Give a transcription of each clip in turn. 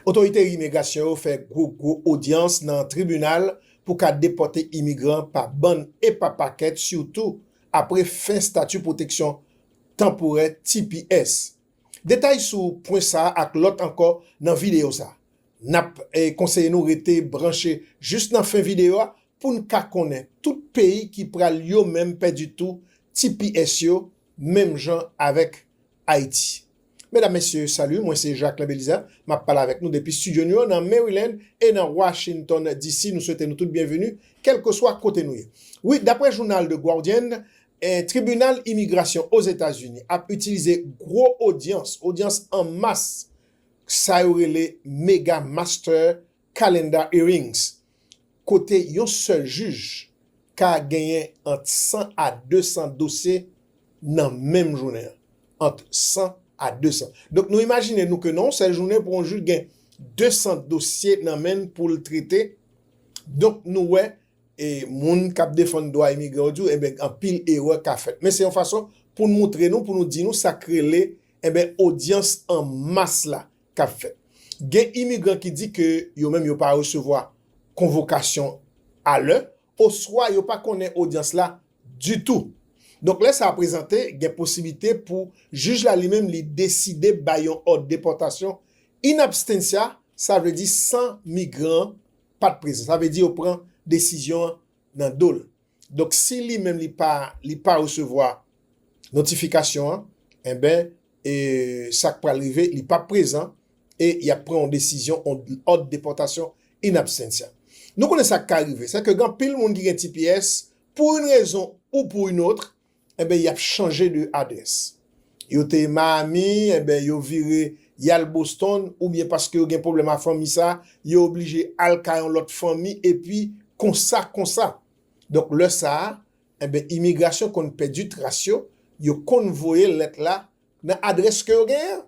Otorite imigrasyon yo fè gwo gwo odyans nan tribinal pou ka depòte imigran pa bann e pa pakèt sitou apre fen stati pwoteksyon tanporè tps. Detay sou pwen sa ak lòt ankò nan videyo sa. Nap konseye nou rete branche jis nan fen videyo a poun ka konnen tout peyi ki pral yo menm pèdi tou tps yo menm jan avèk Ayiti. Medam, Mesye, salut, mwen se Jacquelin Belizaire, map pale avèk nou depi studio nou yo nan Maryland e nan Washington DC. Nou swete nou tout byenveni, kèlkeswa kote nou ye. Wi, daprè jounal The Guardian, tribinal imigrasyon Ozetazini ap itilize gwo odyans, odyans an mas, sa yo rele mega master Calendar Hearings, kote yon sèl jij ka genyen ant 100 a 200 dosye nan menm jounen an, ant 100 a 200. Donk nou imajine nou ke nan yon sèl jounen pou yon jij gen 200 dosye nan men l pou l trete, donk nou wè e moun k ap defann dwa imigran yo di w enben anpil erè ka fèt. Men se yon fason pou n moutre nou, pou nou di nou sa k rele enben odyans an mas la, k ap fèt. Gen imigran ki di ke yo menm yo pa resevwa konvokasyon a lè oswa yo pa konnen odyans la ditou. Donk lè sa prezante, gen posiblite pou jij la li menm li deside bay yon òd depòtasyon in abstentia, sa vle di san migran an pa t prezan. Sa vle di yo pran desizyon an nan do l. Donk si li menm li pa li pa resevwa notifikasyon an enben e sa k pral rive li pap prezan e y ap pran yon desizyon yon òd depòtasyon in absentia. Nou konnen sa k ka rive sèke gen anpil moun ki gen tps pou yn rezon ou pou yn otre enben y ap chanje de adrès. Yo te Miami, enben yo vire y al Boston oubyen paske yo gen pwoblèm a fanmi sa, yo oblije al ka yon lòt fanmi epi konsa konsa. Donk lè sa a, enben imigrasyon konn pèdi tras yo, yo konn voye lèt la nan adrès ke yo genyen an.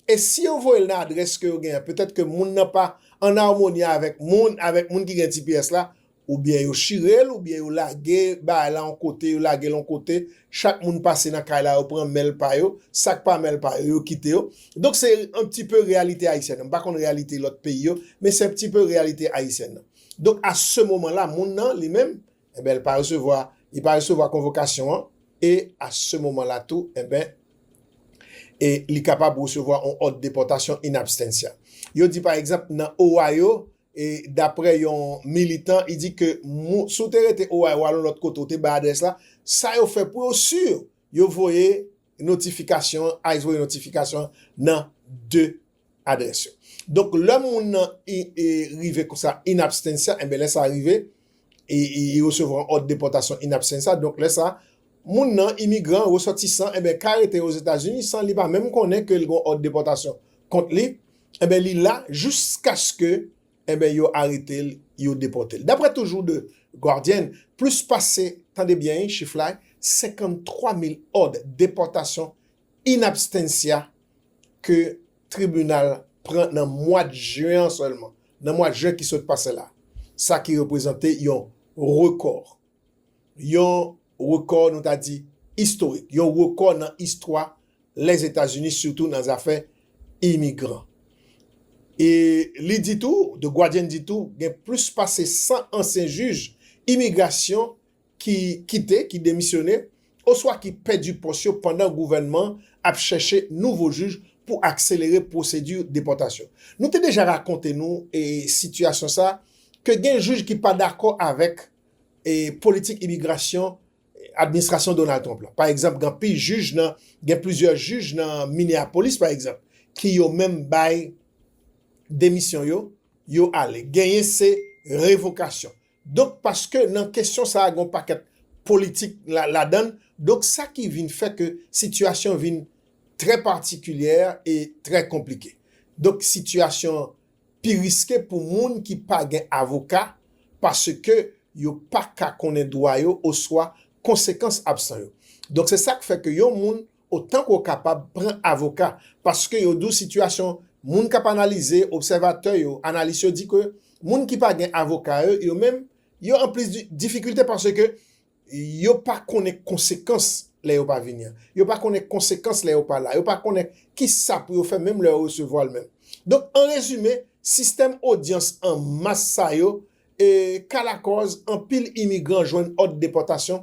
E si yo voye l nan adrès ke yo gen an, petèt ke moun nan pa an armoni avèk moun, avèk moun ki gen tps la, ou byen yo chire l, ou byen yo lage bagay la yon kote, yo lage l yon kote, chak moun pase nan kay la yo pran mèl pa yo, sak pa mèl pa yo, yo kite yo. Donk se an pti peu reyalite ayisyèn nan, m pa konn reyalite lòt peyi yo, men se an pti peu reyalite ayisyèn nan. Donk a se moman la moun nan, li menm, Enben, li pa resevwa, li pa resevwa konvokasyon an, e a se moman la tou, enben, e li kapab resevwa yon òd depòtasyon in abstentia. Yo di pa egzanp nan Ohio, e dapre yon militan, li di ke si w te rete Ohio ou al yon lòt kote ou te bay adrès la, sa yo fè pou yo si yo voye notifikasyon an, ice voye notifikasyon an nan 2 adrès yo. Donk lè moun nan rive konsa in absentia, enben lè sa rive, li resevwa yon òd depòtasyon in absentia, donk lè sa, moun nan, imigran, resòtisan, enben ka rete Ozetazini san li pa menm konnen ke li gen yon òd depòtasyon kont li, enben li la jiskaske, enben yo arete l, yo depòte l. Daprè toujou The Guardian, plis pase, tande byen wi chif la, 53 mil òd depòtasyon in abstentia ke tribinal pran nan mwad jen an sèlman, nan mwad jen ki sot pase la, sa ki reprezante yon rekò, yon rekò nou ta di istorik, yon rekò nan istwa Lèzetazini sitou nan zafè imigran. E li di tou, The Guardian di tou, gen plis pase 100 ansyen jij imigrasyon ki kite, ki demisyone, oswa ki pèdi pòs yo pandan gouvènman ap chèche nouvo jij pou akselere pwosedi depòtasyon. Nou te deja rakonte nou sitiyasyon sa ke gen jij ki pa dakò avèk politik imigrasyon administrasyon Donald Trump la. Pa egzanp, gen anpil jij nan, gen plizyè jij nan Minneapolis pa egzanp, ki yo menm bay demisyon yo, yo ale. Genyen se revokasyon. Donk paske nan kesyon sa a gen yon pakèt politik ladan l, donk sa ki vin fè ke sitiyasyon vin trè patikilyè e trè konplike. Donk sitiyasyon an pi riske pou moun ki pa gen avoka paske yo pa ka konnen dwa yo oswa konsekans absan yo. Donk se sa k fè ke yon moun Otan ke w kapab, pran avoka. Paske yo di w sitiyasyon moun k ap analize, obsèvatè yo, analis yo di ke moun ki pa gen avoka yo, yo menm, yo an plis difikilte paske yo pa konnen konsekans lè yo pa vini an. Yo pa konnen konsekans lè yo pa la. Yo pa konnen ki sa pou yo fè menm lè yo resevwa l menm. Donk, an rezime, sistèm odyans an mas sa yo ka lakòz anpil imigran jwenn òd depòtasyon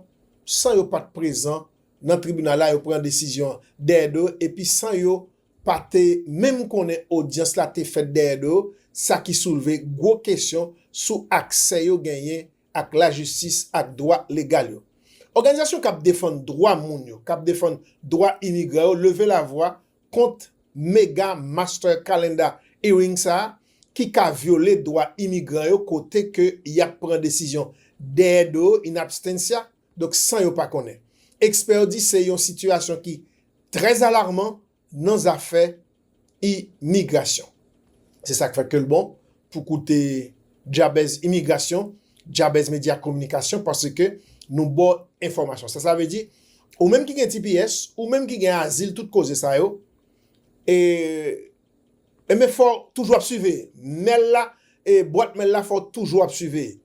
san yo pa t prezan nan tribinal la yo pran desizyon an dèyè do yo epi san yo pa te menm konnen odyans la te fèt dèyè do yo, sa ki soulve gwo kesyon sou aksè yo genyen ak lajistis ak dwa legal yo. Òganizasyon k ap defann dwa moun yo, k ap defann dwa imigran yo leve lavwa kont mega master calendar hearing sa a ki ka vyole dwa imigran yo kote ke y ap pran desizyon dèyè do yo in abstentia, Donk san yo pa konnen. Ekspè yo di se yon sitiyasyon ki trè alarman nan zafè imigrasyon. Se sa k fè ke l bon pou koute Djabèz Imigrasyon, Djabèz Medya Kominikasyon paske nou ba w enfòmasyon sa. Sa vle di, ou menm ki gen tps, ou menm ki gen azil, tout koze sa yo e. E men fòw toujou ap siveye mèl la e bwat mèl la fòw toujou ap siveye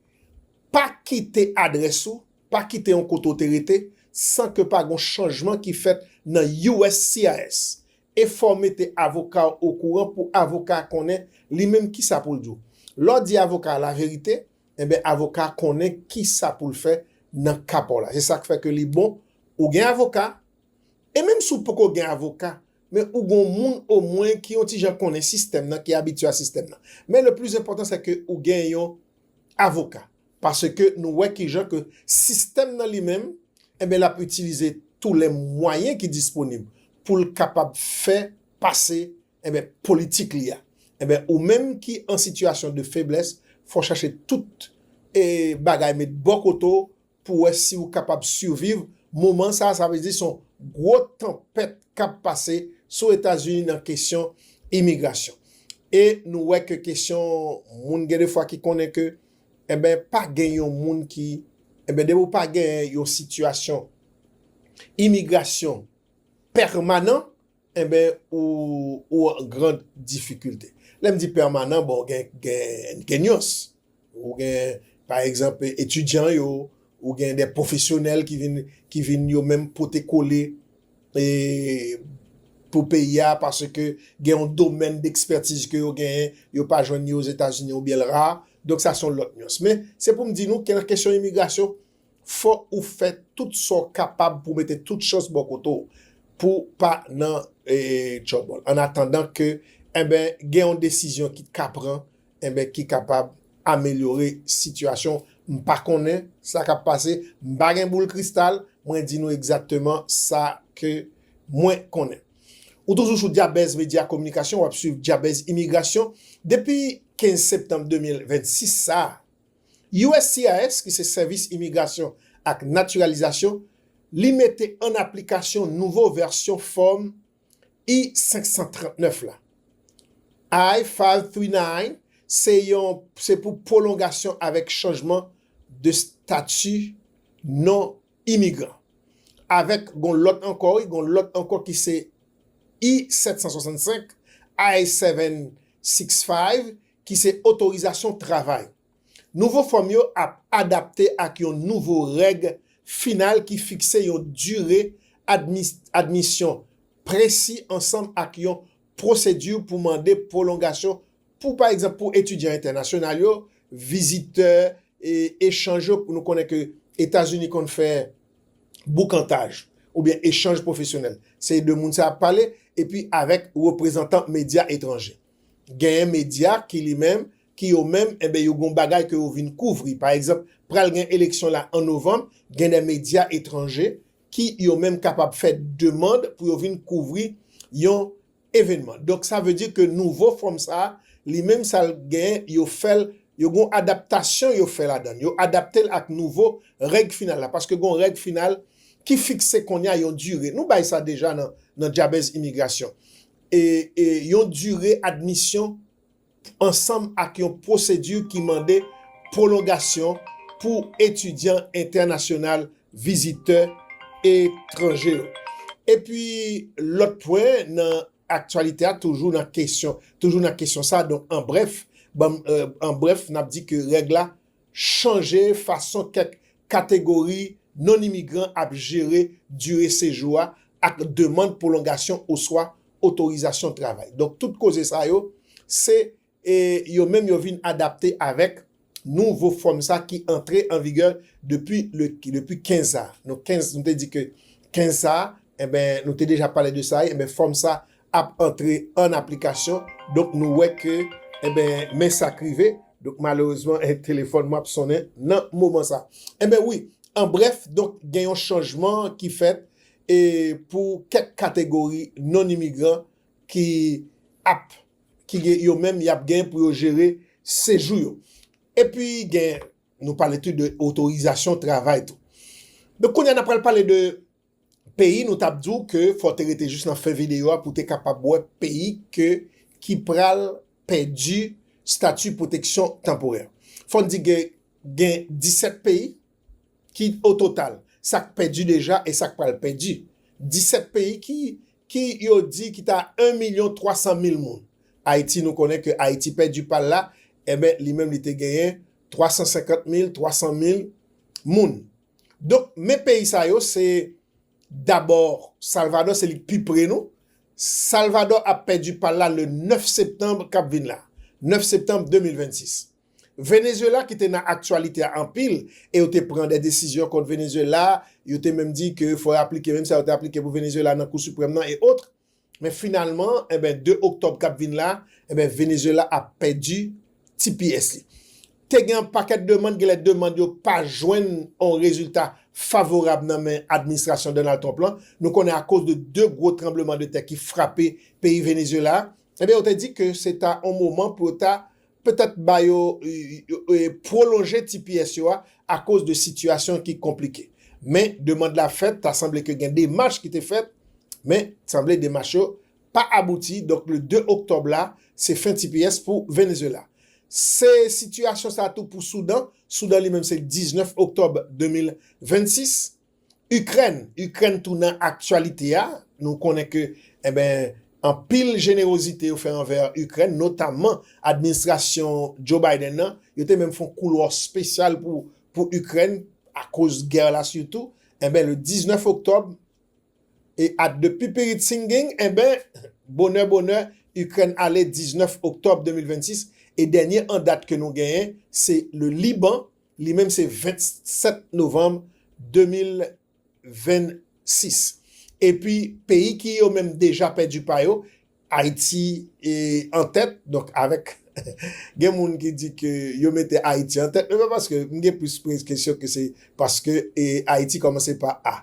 pa kite adrès ou pa kite yon kote ou te rete san ke pa gon chanjman ki fèt nan uscis e fòw mete avoka ou okouran pou avoka a konnen li menm kisa poul di w lèw di avoka a laverite enben avoka a konnen kisa poul fè nan ka paw la se sak fè ke li bon ou gen avoka e menm si w poko gen avoka Men ou gon moun o mwen ki yon ti jan konnen sistèm nan, ki abitye a sistèm nan. Men le plis enpòtan se ke ou gen yon avoka. Paske nou wè ki jan ke sistèm nan li menm, enben l ap itilize tou le mwayen ki disponib pou l kapab fè pase, enben politik li a. Enben ou menm ki an sitiyasyon de feblès, fò w chache tout e bagay met bò kote w, pou wè si ou kapab siviv moman sa a, sa vle di son gwo tanpèt kap pase sou Etazini nan kesyon imigrasyon. E nou wè ke kesyon moun gen de fwa ki konnen ke enben pa gen yon moun ki enben depi ou pa gen yon sitiyasyon imigrasyon pèmanan, Enben ou ou an grand difikilte. Lè m di pèmanan bon gen gen gen nyans. Ou gen pa egzanp etidyan yo, ou gen de pwofesyonèl ki vin ki vin yo menm pote kole e pou peyi a paske gen yon domèn dekspètiz ke yo genyen yo pa jwenn ni Ozetazini oubyen l ra. Donk sa s on lòt nyans. Men se pou m di nou ke nan kesyon imigrasyon Fòk ou fè tout sa w kapab pou mete tout chans bò kote w pou w pa nan tchòbòl an atandan ke enben gen yon desizyon ki ka pran enben ki kapab amelyore sitiyasyon w. M pa konnen sa k ap pase, m pa gen boul kristal, mwen di nou egzakteman sa ke mwen konnen. Ou toujou sou Dyabèz Medya Kominikasyon, w ap swiv Dyabèz Imigrasyon depi 15 septanm 2026 sa a. uscis ki se Sèvis Imigrasyon ak Natiralizasyon li mete an aplikasyon nouvo vèsyon fòm I-539 la. I-539 se yon se pou pwolongasyon avèk chanjman de stati non imigran. Avèk gon lòt ankò wi, gon lòt ankò ki se I-765, I-765 ki se otorizasyon travay. Nouvo fòm yo ap adapte ak yon nouvo règ final ki fikse yon dire admisyon presi ansanm ak yon pwosedi pou mande pwolongasyon pou pa egzanp pou etidyan entènasyonal yo, vizitè echanj yo, nou konnen ke Etazini konn fè boukantaj oubyen echanj pwofesyonèl, se de moun sa ap pale epi avèk reprezantan medya etranje. Genyen medya ki li menm, ki yo menm enben yo gon bagay ke yo vin kouvri. Pa egzanp, pral gen eleksyon la an novanm, gen dè medya etranje ki yo menm kapab fè demand pou yo vin kouvri yon evenman. Donk sa vle di ke nouvo fòm sa a, li menm sa l genyen yo fè l, yo gon adaptasyon yo fè ladan l. Yo adapte l ak nouvo règ final la. Paske gon règ final ki fikse kounye a yon dire. Nou bay sa deja nan Djabèz Imigrasyon. yon dire admisyon ansanm ak yon pwosedi ki mande pwolongasyon pou etidyan entènasyonal vizitè etranje yo. Epi lòt pwen nan aktyalite a toujou nan kesyon sa, donk an brèf, an brèf n ap di ke règ la chanje fason kèk kategori non-imigran ap jere dire sejou a ak demand pwolongasyon oswa otorizasyon travay. Donk tout koze sa yo, se yo menm yo vin adapte avèk nouvo fòm sa ki antre an vigè depi le, depi 15 sa a. Nou 15, nou te di ke 15 sa a, enben nou te deja pale de sa, enben fòm sa ap antre an aplikasyon donk nou wè ke enben men sak rive donk malerezman telefòn mwen ap sonnen nan moman sa enben wi an brèf donk gen yon chanjman ki fèt e pou kèk kategori non imigran ki ap ki gen yo menm yap gen pou yo jere sejou yo epi gen nou pale tou de otorizasyon travay tou donk kounye a nap pral pale de. peyi nou tap diw ke fò te rete jis nan fen video a pou te kapab wè peyi ke ki pral pèdi stati pwoteksyon tanporè. Fòn di ke gen 17 peyi ki o total sak pèdi deja e sak pral pèdi. 17 peyi ki ki yo di ki ta 1 milyon 300 mil moun. Ayiti nou konnen ke Ayiti pèdi pal la, enben li menm li te genyen 350 mil, 300 mil moun. Donk men peyi sa yo se dabò Salvadò se li k pi pre nou. Salvadò ap pèdi pa l la le 9 septanb k ap vin la, 9 septanb 2026. Venezuela ki te nan aktyalite a anpil e yo te pran de desizyon kont Venezuela, yo te menm di ke fò yo aplike menm sa yo te aplike pou Venezuela nan Kou Siprèm nan e otre. Men finalman, enben 2 oktòb k ap vin la, enben Venezuela ap pèdi ti pyès li. Te gen yon pakèt demand, gen lè demand yo pa jwenn yon rezilta favorab nan men administrasyon Donald Trump lan. Nou konnen akoz de 2 gwo tranbleman de tè ki frape peyi Venezuela, enben yo te di ke se ta yon moman pou yo ta petèt ba yo pwolonje tps yo a akoz de sitiyasyon ki konplike. Men demand la fèt, ta sanble ke gen demach ki te fèt, men sanble demach yo pa abouti, donk le 2 oktòb la se fen tps pou Venezuela. Se sitiyasyon sa tou pou Soudan, Soudan li menm se 19 oktòb 2026. Ikrèn, Ikrèn tou nan aktyalite a, nou konnen ke eben anpil jenerozite yo fè anvè Ikrèn notamman administrasyon Joe Biden nan, yo te menm fon koulwa spesyal pou Ikrèn akoz gè la sitou, eben le 19 oktòb e at de pipiri tsinging eben bonè bonè Ikrèn ale 19 oktòb 2026 e dènye an dat ke nou genyen se le Liban. Li menm se 27 novanm 2026. Epi peyi ki yo menm deja pèdi pa yo, Ayiti an tèt, donk avèk gen moun ki di ke yo mete Ayiti an tèt, men pa paske m gen plis prez kesyon ke se paske Ayiti kòmanse pa A.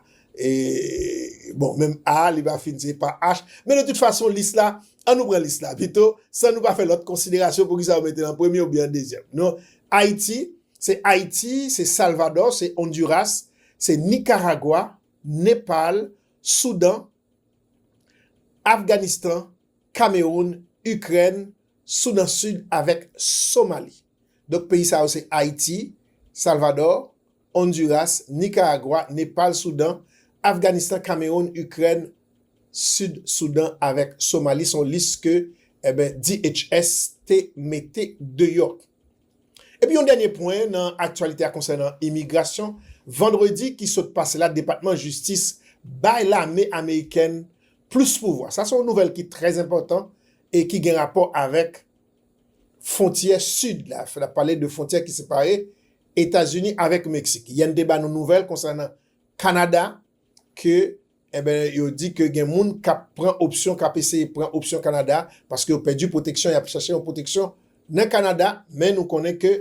Bon, menm A a li va fin se pa H. Men de tout fason lis la, an nou pran lis la pito, san nou pa fè lòt konsiderasyon poukisa yo mete l an premye oubyen an dezyèm. Nou, Ayiti, se Ayiti, se Salvadò, se Ondiras, se Nikaragwa, Nepal, Soudan, Afganistan, Kamewoun, Ikrèn, Soudan Sid avèk Somali. Donk peyi sa yo se Ayiti, Salvadò, Honduras, Nicaragua, Nepal, Soudan, Afganistan, Cameroun, Ukraine, Sud Soudan avèk Somali son lis ke eben DHS te mete deyò. Epi yon dènye pwen nan aktyalite a konsènan imigrasyon, vandredi ki sot pase la depatman jistis bay lame amerikèn plis pouvwa. Sa son nouvèl ki trè enpòtan e ki gen rapò avèk. Fontyè sid la, fè n ap pale de fontyè ki separe Etazini avèk Meksik. Yè n te ba nou nouvèl konsènan Kanada ke enben yo di ke gen moun k ap pran opsyon, k ap eseye pran opsyon Kanada paske yo pèdi pwoteksyon, y ap chache yon pwoteksyon nan Kanada. Men nou konnen ke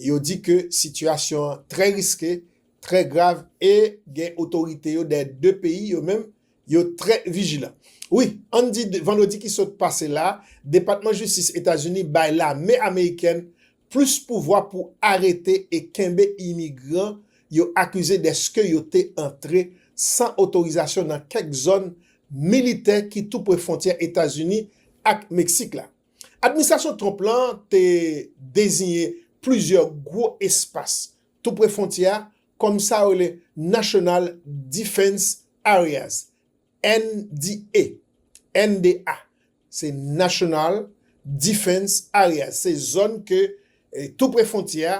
yo di ke sitiyasyon an trè riske, trè grav e gen otorite yo dèyè de peyi yo menm Yo trè vijilan. Wi, ann di vandredi ki sot pase la, Depatman Jistis Etazini bay lame amerikèn plis pouvwa pou arete e kenbe imigran yo akize deske yo te antre san otorizasyon nan kèk zòn militè ki tou pre fwontyè Etazini ak Meksik la. Administrasyon Trump lan te deziyen plizyè gwo espas tou pre fwontyè a kòm sa yo rele National Defense Areas, NDA, NDA, se National Defense Areas, se zòn ke tou pre fwontyè a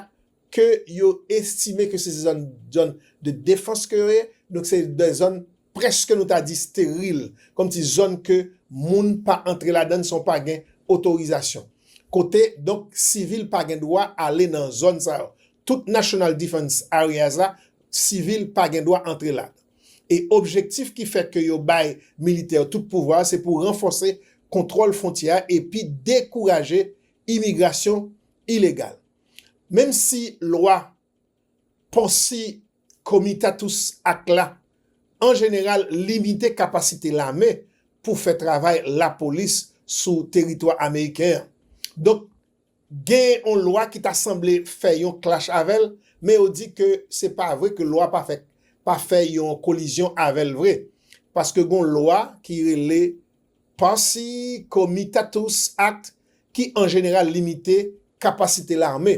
ke yo estime ke se zòn de defans ke yo ye, donk se de zòn prèske nou ta di steril, kòmsi zòn ke moun pa antre ladann san w pa gen otorizasyon. Kote donk sivil pa gen dwa ale nan zòn sa yo. Tout National Defense Areas la, sivil pa gen dwa antre la. E objektif ki fè ke yo bay militè yo tout pouvwa a se pou ranfòse kontwòl fwontyè a epi dekouraje imigrasyon ilegal. Menmsi lwa. Pòsi Comitatus Act la an jeneral limite kapasite lame pou fè travay lapolis sou teritwa ameriken an. Donk, gen yon lwa ki ta sanble fè yon clash avè l, men yo di ke se pa vre ke lwa pa fè pa fè yon kolizyon avè l vre, paske gen yon lwa ki rele Pòsi Comitatus Act ki an jeneral limite kapasite lame.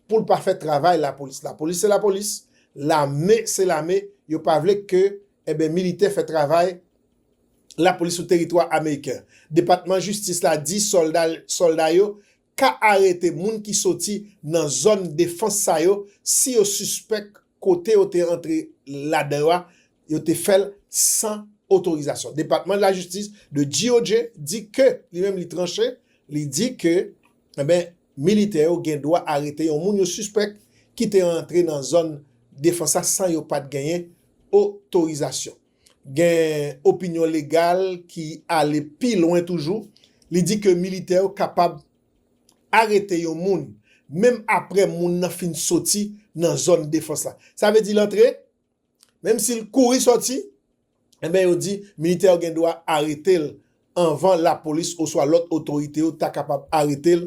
poul pa fè travay lapolis lapolis se lapolis lame se lame yo pa vle ke enben militè fè travay lapolis sou teritwa ameriken depatman jistis la di solda solda yo ka arete moun ki soti nan zòn defans sa yo si yo sispèk kote yo te antre ladan yo a yo te fèl san otorizasyon depatman lajistis de GOJ di ke li menm li tranche li di ke. Enben, militè yo gen dwa arete yon moun yo sispèk ki te antre nan zòn defans la san yo pa t genyen otorizasyon. Gen opinyon legal ki ale pi lwen toujou, li di ke militè yo kapab arete yon moun menm apre moun nan fin soti nan zòn defans la. Sa vle di l antre? Menm si l kouri sòti, enben yo di militè yo gen dwa arete l anvan lapolis oswa lòt otorite yo ta kapab arete l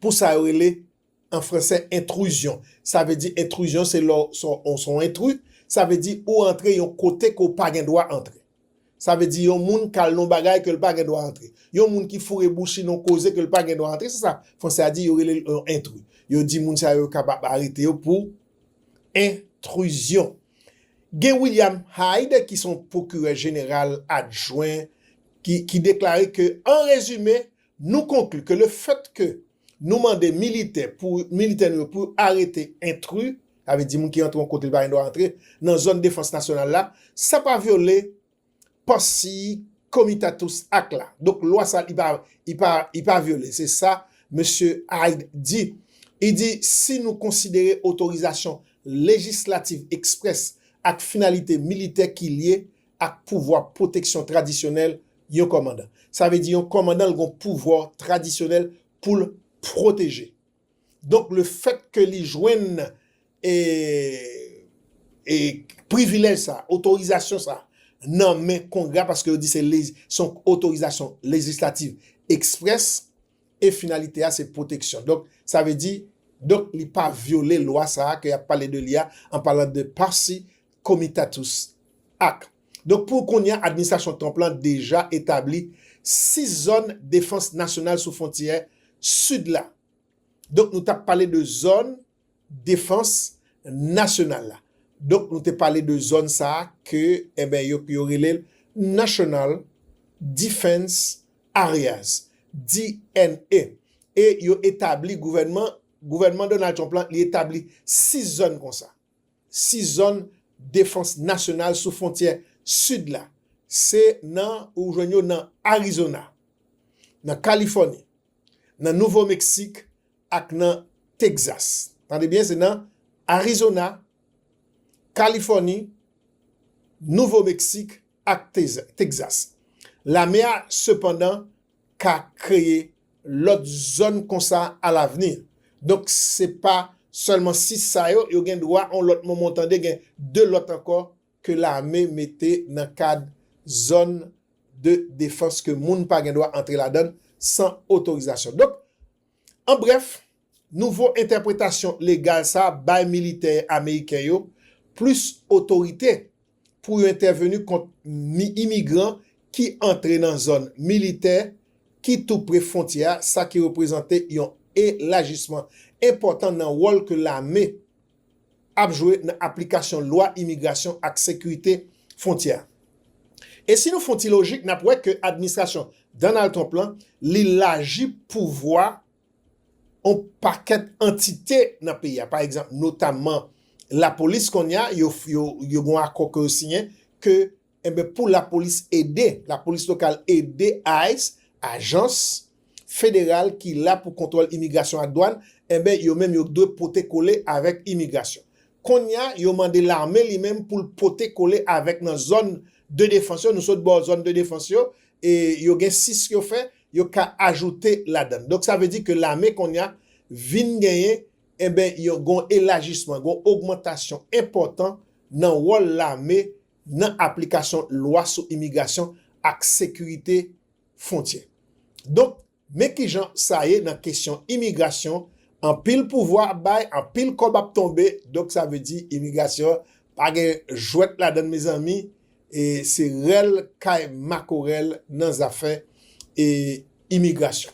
pou sa yo rele an fransè entruzyon. Sa vle di entruzyon se lè w se yon entrui, sa vle di ou antre yon kote ke w pa gen dwa antre. Sa vle di yon moun k al nan yon bagay ke l pa gen dwa antre. Yon moun ki foure bouch li nan yon koze ke l pa gen dwa antre, se sa franse a di, yo rele l yon entri. Yo di moun sa yo, yo kapab arete yo pou entruzyon. Gen William Hyde ki se yon pwokirè jeneral adjwen ki deklare ke, an rezime, nou konkli ke lefèt ke Nou mande militè pou militè nou yo pou yo arete entri, sa vle di moun ki antre yon kote li pa gen dwa antre, nan zòn defans nasyonal la, san pa vyole Pansi Comitatus Act la. Donk lwa sa li pa, li pa, li pa vyole. Se sa mesye Hyde di. Li di si nou konsidere otorizasyon lejislativ eksprès ak finalite militè ki lye ak pouvwa pwoteksyon tradisyonèl yon kòmandan. Sa vle di yon kòmandan l gon pouvwa tradisyonèl pou l pwoteje. Donk le fèt ke li jwenn e privilèj sa, otorizasyon sa nan men kongrè a paske yo di se yon otorizasyon lejislativ eksprès e finalite a se pwoteksyon. Donk, sa vle di, donk li pa vyole lwa sa a ke y ap pale de li a, an palan de Parsi Comitatus Act. Donk, pou kounye a, administrasyon Trump lan deja etabli 6 zòn defans nasyonal sou fwontyè sid la. Donk, nou t ap pale de zòn. defans nasyonal la. Donk nou te pale de zòn sa a ke enben yo yo rele l National Defense Areas, DNA. E yo etabli gouvènman, gouvènman Donald Trump lan li etabli 6 zòn konsa. 6 zòn defans nasyonal sou fwontyè sid la. Se nan ou jwenn yo nan Arizona, nan Kalifòni, nan Nouvo Meksik ak nan Texas. Tande byen, se nan Arizona, Kalifòni, Nouvo Meksik ak Texas. Lame a, sepandan, ka kreye lòt zòn konsa alavni. Donk, se pa sèlman 6 sa yo, yo gen dwa yon lòt moman tande gen 2 lòt ankò ke lame mete nan kad zòn de defans ke moun pa gen dwa antre ladan l san otorizasyon. Donk, an brèf, nouvo entèpretasyon legal sa a bay militè ameriken yo plis otorite pou yo entèveni kont imigran ki antre nan zòn militè ki tou pre fwontyè a, sa ki reprezante yon elajisman enpòtan nan wòl ke lame ap jwe nan aplikasyon lwa imigrasyon ak sekirite fwontyè a. E si nou fon ti lojik nap wè ke administrasyon Donald Trump lan li laji pouvwa on pakèt antite nan peyi a, pa egzanp notamman lapolis konnya yo gon akò ke yo siyen ke Enben pou lapolis ede, lapolis lokal ede ice, ajans Federal ki la pou kontwòl imigrasyon ak dwàn, enben yo menm yo k dwe pote kole avèk imigrasyon. Konnya yo mande lame li menm pou l pote kole avèk nan zòn de defans yo, nou sot bò zòn de defans yo, e yo gen 6 yo fè, yo ka ajoute ladann. Donk sa vle di ke lame konnya vin genyen enben yon gon elajisman, gon ogmantasyon enpòtan nan wòl lame nan aplikasyon lwa sou imigrasyon ak sekirite fwontyè. Donk, men ki jan sa ye nan kesyon imigrasyon, anpil pouvwa ap bay, anpil kòb ap tonbe, donk sa vle di imigrasyon pa gen jwèt ladann mezanmi, e se rèl kay makorèl nan zafè imigrasyon.